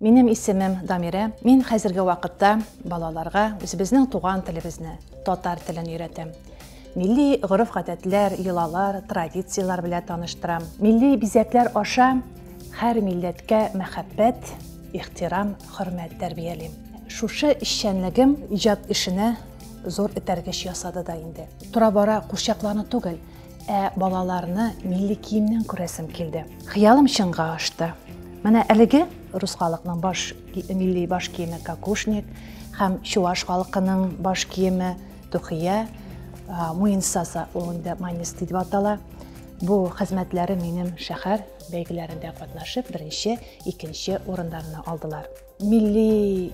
Минем исемем Дамирә. Мин хәзерге вакытта балаларга үзебезнең туган телебезне, татар телен өйрәтәм. Милли гореф-гадәтләр, йолалар, традицияләр белән таныштырам. Милли бизәкләр аша һәр милләткә мәхәббәт, ихтирам, хөрмәт тәрбиялим. Шушы эшчәнлегем иҗат эшенә зур этәргеч ясады да инде. Тора-бара курчакларны түгел, Ә балаларны милли киемнән күрәсем килде. Хыялым чынга ашты. Менә әлеге рус халыкның баш милли баш киеме кокушник һәм чуваш халкының баш киеме тухия, муенсаса ул инде манисты дип атала. Бу хезмәтләре минем шәһәр бәйгеләрендә катнашып, беренче, икенче урыннарны алдылар. Милли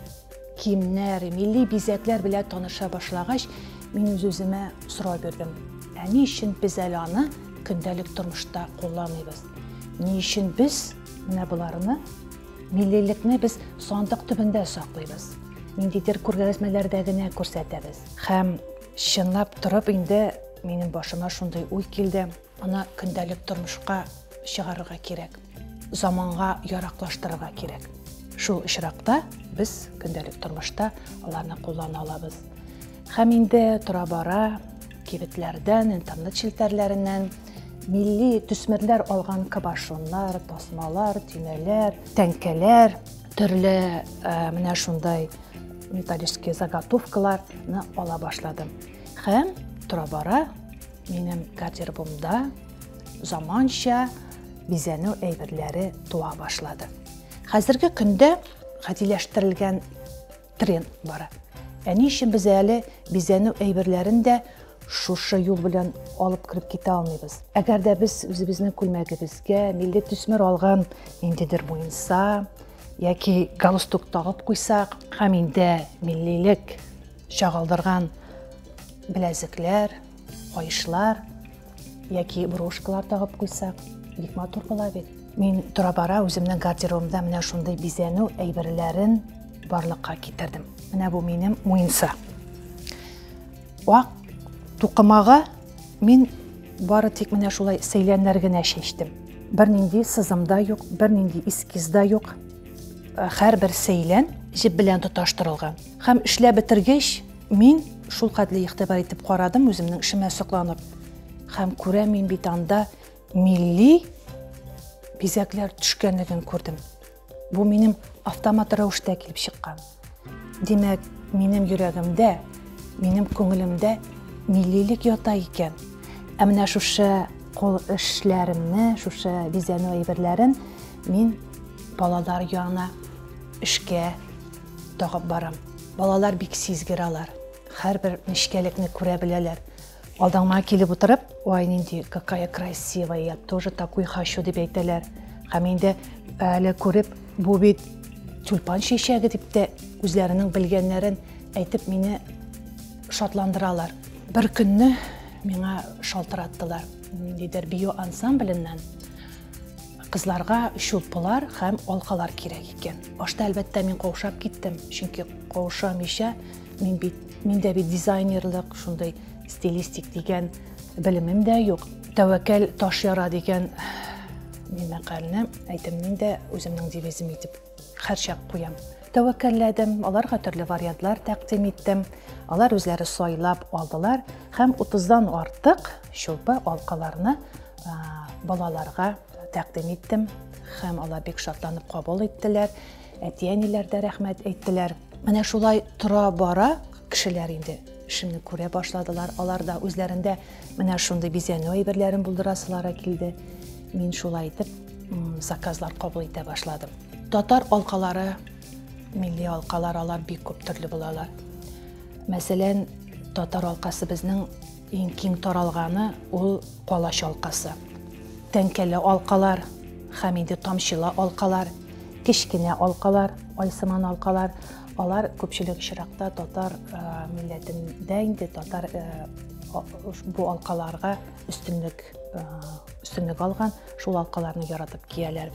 киемнәр, милли бизәкләр белән таныша башлагач, мин үз-үземә сорау бирдем. Ә ни өчен без әле аны көндәлек тормышта кулланмыйбыз? Ни өчен без менә боларны миллилекне без сандык төбендә саклыйбыз? Ниндидер күргәзмәләрдә генә күрсәтәбез. Һәм чынлап торып инде минем башыма шундый уй килде. Аны көндәлек тормышка чыгарырга кирәк, заманга яраклаштырырга кирәк. Шул очракта без көндәлек тормышта аларны куллана алабыз. Һәм инде тора-бара кибетләрдән, интернет челтәрләреннән милли төсмерләр алган кабашоннар, тасмалар, төймәләр, тәңкәләр, төрле э, менә шундай металлический заготовкаларны ала башладым. Һәм тора-бара Минем гардеробымда заманча бизәнү әйберләре туа башлады. Хәзерге көндә гадиләштерелгән тренд бара. Ә ни өчен без әле бизәнү әйберләрен дә шушы юл белән алып кереп китә алмыйбыз. Әгәр дә без үзебезнең күлмәгебезгә милли төсмер алган ниндидер муенса яки галстук тагып куйсак һәм инде миллилек чагылдырган беләзекләр, кайышлар яки брошкалар тагып куйсак, бик матур була бит. Мин тора-бара үземнең гардеробымда менә шундый бизәнү әйберләрен барлыкка китердем. Менә бу минем муенса. Ак тукымага мин бары тик менә шулай сәйләннәр генә чәчтем. Бернинди сызым да юк, бернинди эскиз да юк. Һәрбер сәйлән җеп белән тоташтырылган. Һәм эшләп бетергәч, мин шулкадли игътибар итеп карадым үземнең эшемә сокланып. Һәм күрә мин бит анда милли бизәкләр төшкәнлеген күрдем. Бу минем автомат рәвештә килеп чыккан. Димәк, минем йөрәгемдә, минем күңелемдә миллилек ята икән. Ә менә шушы кул эшләремне, шушы бизәнү әйберләрен мин балалар янына эшкә Тагып барам. Балалар бик сизгер алар. Хәрбер нечкәлекне күрә беләләр. Алдаңа килеп утырып, ой, нинди, какая красивая, я тоже такой хочу дип әйтәләр. Һәм инде әле күреп, бу бит тюльпан чәчәге дип тә үзләренең белгәннәрен әйтеп мине шатландыралар. Бер көнне миңа шалтыраттылар. Ниндидер био ансамбленнән Кызларга чулпылар һәм алкалар кирәк икән. Башта, әлбәттә, мин каушап киттем, чөнки каушамыйча мин бит, миндә бит дизайнерлык, шундый стилистик дигән белемем дә юк. Тәвәкәл таш яра дигән мәкальне әйтемнең дә үземнең девизым итеп Хәрчәк куям. Тәвәккәлләдем, аларга төрле вариантлар тәкъдим иттем. Алар үзләре сайлап алдылар һәм 30-дан артык чулпы алкаларны балаларга тәкъдим иттем һәм алар бик шатланып кабул иттеләр. Әти-әниләр дә рәхмәт әйттеләр. Менә шулай тора бара кешеләр инде эшемне күрә башладылар. Алар да үзләрендә Менә шундый бизәнү әйберләрен булдырасылары килде. Мин шулай итеп заказлар кабул итә башладым. Татар алкалары, милли алкалар алар бик күп төрле булалар. Мәсәлән, татар алкасы безнең иң киң таралганы ул калач алкасы. Тәңкәле алкалар, хәмиде тамчылы алкалар, кечкенә алкалар, айсыман алкалар, Алар күпчелек очракта татар милләтендә инде татар бу алкаларга өстенлек өстенлек алган, шул алкаларны яратып кияләр.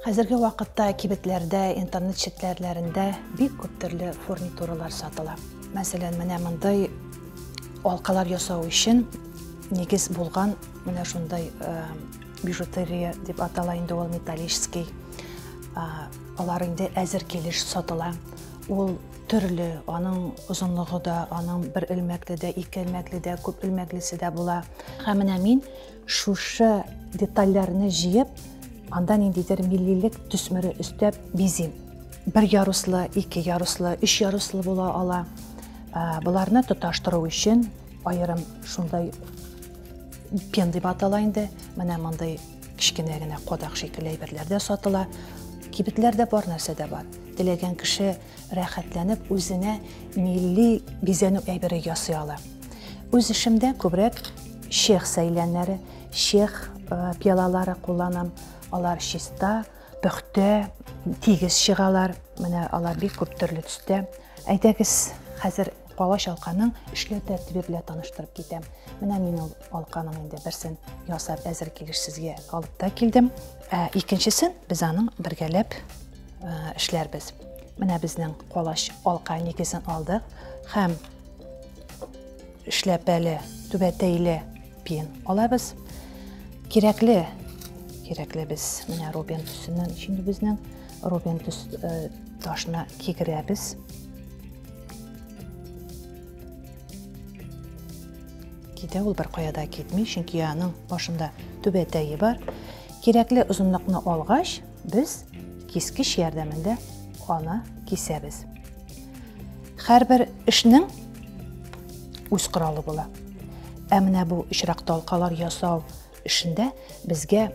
Хәзерге вакытта кибетләрдә, интернет челтәрләрендә бик күп төрле фурнитуралар сатыла. Мәсәлән, менә мондый алкалар ясау өчен нигез булган менә шундай э, бижутерия дип атала инде ул металлический э, Алар инде әзер килеш сатыла. Ул төрле, аның озынлыгы да, аның бер элмәкле дә, ике элмәкле дә, күп элмәклесе дә була. Һәм менә мин шушы детальләрне җыеп, анда ниндидер миллилек төсмере өстәп бизим. Бер яруслы, ике яруслы, өч яруслы була ала. Ә, Боларны тоташтыру өчен аерым шундай пен дип атала инде. Менә мондый Кечкенә генә кадак шикелле әйберләр дә сатыла. Кибетләрдә бар нәрсә дә бар. Теләгән кеше рәхәтләнеп үзенә милли бизәнү әйбере ясый ала. Үз эшемдә күбрәк чех сәйләннәре, чех э, пиалалары кулланам. Алар чиста, пөхтә, тигез чыгалар. Менә алар бик күп төрле төстә. Әйдәгез, хәзер Калач алканың эшләү тәртибе белән таныштырып китәм. Менә мин ул алканың инде берсен ясап әзер килеш сезгә алып та килдем. Ә икенчесен без аның бергәләп эшләрбез. Менә безнең калач алка нигезен алдык һәм эшләпәле түбәтәйле пин алабыз. Кирәкле кирәкле без менә рубин төсеннән җиңдебезнең рубин төс ташына кигерәбез. Китә ул беркая да китми, чөнки аның башында түбәтәе бар. Кирәкле озынлыкны алгач, без кискеч ярдәмендә аны кисәбез. Һәрбер эшнең үз коралы була. Ә менә бу очракта алкалар ясау Эшендә безгә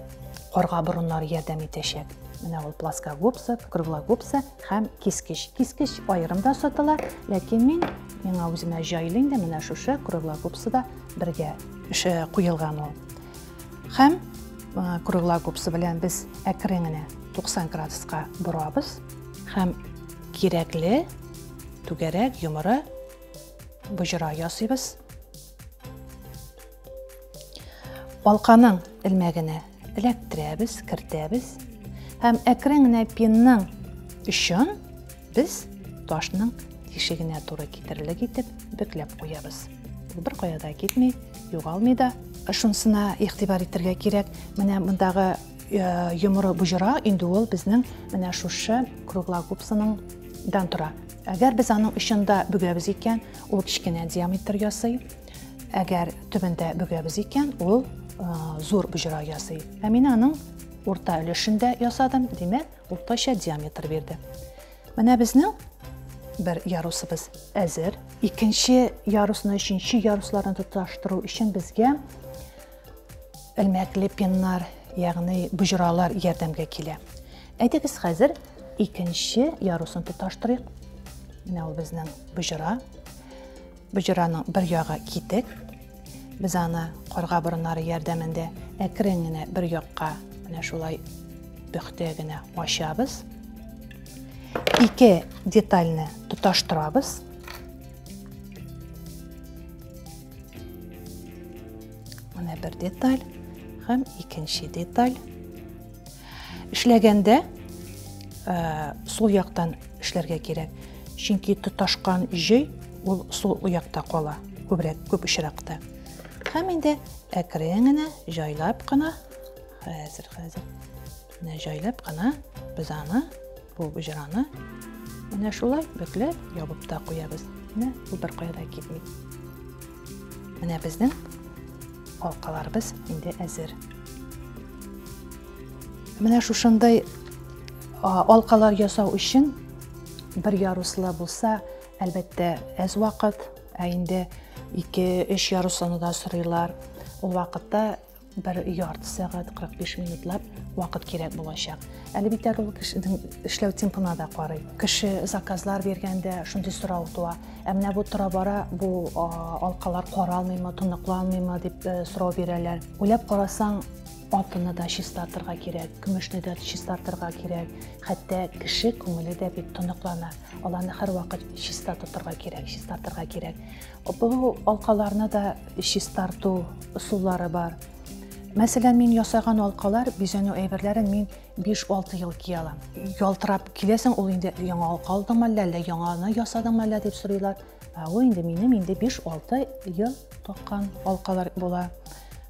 карга борыннары ярдәм итәчәк. Менә ул плоскогубцы, круглогубцы һәм кискеч. Кискеч аерым да сатыла, ләкин мин миңа үземә җайлы инде менә шушы круглогубцы да бергә эше куелган ул. Һәм круглогубцы белән без әкрен генә 90 градуска борабыз һәм кирәкле түгәрәк йомыры боҗра ясыйбыз. Алканың элмәгенә эләктерәбез, кертәбез һәм әкрен генә пинның өчен без ташның тишегенә туры китерерлек итеп бөкләп куябыз. Ул бер кая да китми, югалмый да. Шунсына игътибар итәргә кирәк. Менә мондагы э, йомыры буҗыра, инде ул безнең менә шушы круглогубсының дан тора. Әгәр без аның очында бөгәбез икән, ул кечкенә диаметр ясый, Әгәр төбендә бөгәбез икән, ул зур боҗра ясый. Ә мин аның урта өлешендә ясадым, димәк, уртача диаметр бирде. Менә безнең бер ярусыбыз әзер. Икенче ярусны, өченче ярусларны тоташтыру өчен безгә элмәкле пеннар, ягъни боҗралар ярдәмгә килә. Әйдәгез хәзер икенче ярусын тоташтырыйк. Менә ул безнең боҗра. Боҗраның бер ягы китек. Без аны карга борыннары ярдәмендә әкрен генә бер якка менә шулай пөхтә генә ачабыз. Ике детальне тоташтырабыз. Менә бер деталь һәм икенче деталь. Эшләгәндә э, сул яктан эшләргә кирәк. Чөнки тоташкан җөй ул сул якта кала, күбрәк күп очракта. Һәм инде әкрен генә, җайлап кына, хәзер, хәзер, менә җайлап кына без аны Бу уҗраны менә шулай бөкләп ябып та куябыз. Менә бу бер кая да китми. Менә безнең алкаларыбыз инде әзер. Менә шушындай алкалар ясау өчен бер яруслы булса, әлбәттә, әз вакыт, ә инде 2-3 яруслыны да сорыйлар. Ул вакытта бер ярты сәгать 45 минутлап вакыт кирәк булачак әлбиттә ул кешенең эшләү темпына да карый кеше заказлар биргәндә шундый сорау туа ә менә бу тора бара бу алкалар каралмыймы тоныкланмыймы дип э, сорау бирәләр уйлап карасаң алтынны да чистартырга кирәк көмешне дә чистартырга кирәк хәтта кеше күңеле дә бит тоныклана аларны һәрвакыт чиста тотырга кирәк чистартырга кирәк Бу алкаларны да чистарту ысуллары бар. Мәсәлән, мин ясаган алкалар, бизәнү әйберләрен мин 5-6 ел кия алам. Ялтырап киләсең, ул инде яңа алка алдыңмы әллә, әллә яңаны ясадыңмы әллә дип сорыйлар. Ә ул инде минем инде 5-6 ел таккан алкалар була.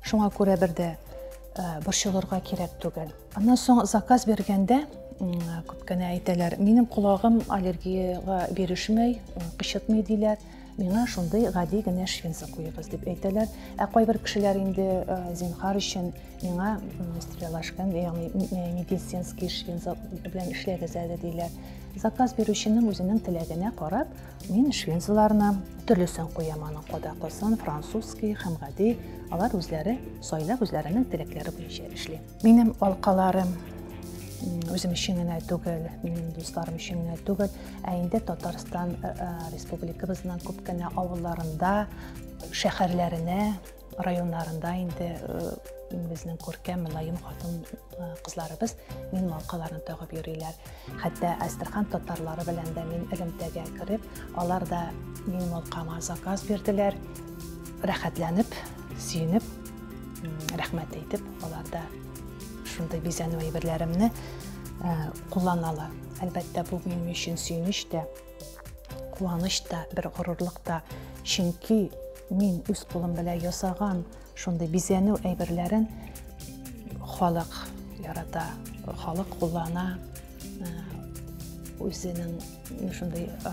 Шуңа күрә бер дә э, борчылырга кирәк түгел. Аннан соң заказ биргәндә күп кенә әйтәләр, минем колагым аллергиягә бирешмәй, кычытмый диләр. Миңа шундый гади генә швенса куегыз дип әйтәләр. Ә кайбер кешеләр инде э, зинхар өчен миңа стрелашкан, ягъни э, медицинский швенса белән эшләгез әле диләр. Заказ бирүченең үзенең теләгенә карап, мин швенсаларны төрлесен куям, аның кадаклысын, французский һәм гади. Алар үзләре сайлап, үзләренең теләкләре буенча эшли. Минем алкаларым үзем өчен генә түгел, минем дусларым өчен генә түгел, ә инде Татарстан э, э, республикабызның күп кенә авылларында, шәһәрләренә, районнарында инде э, безнең күркәм, мөлаем хатын кызларыбыз мин малкаларын тагып йөриләр. Хәтта Әстерхан татарлары белән дә мин элемтәгә кереп, алар да минем алкама заказ бирделәр. Рәхәтләнеп, сөенеп, рәхмәт әйтеп, алар да шундый бизәнү әйберләремне кулланалар. Әлбәттә, бу минем өчен сөенеч тә, куаныч та, бер горурлык та. Чөнки мин үз кулым белән ясаган Шундый бизәнү әйберләрен халык ярата, халык куллана, э, үзенең шундый э,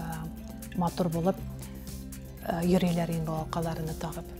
матур булып э, йөриләр инде балакаларны тагып.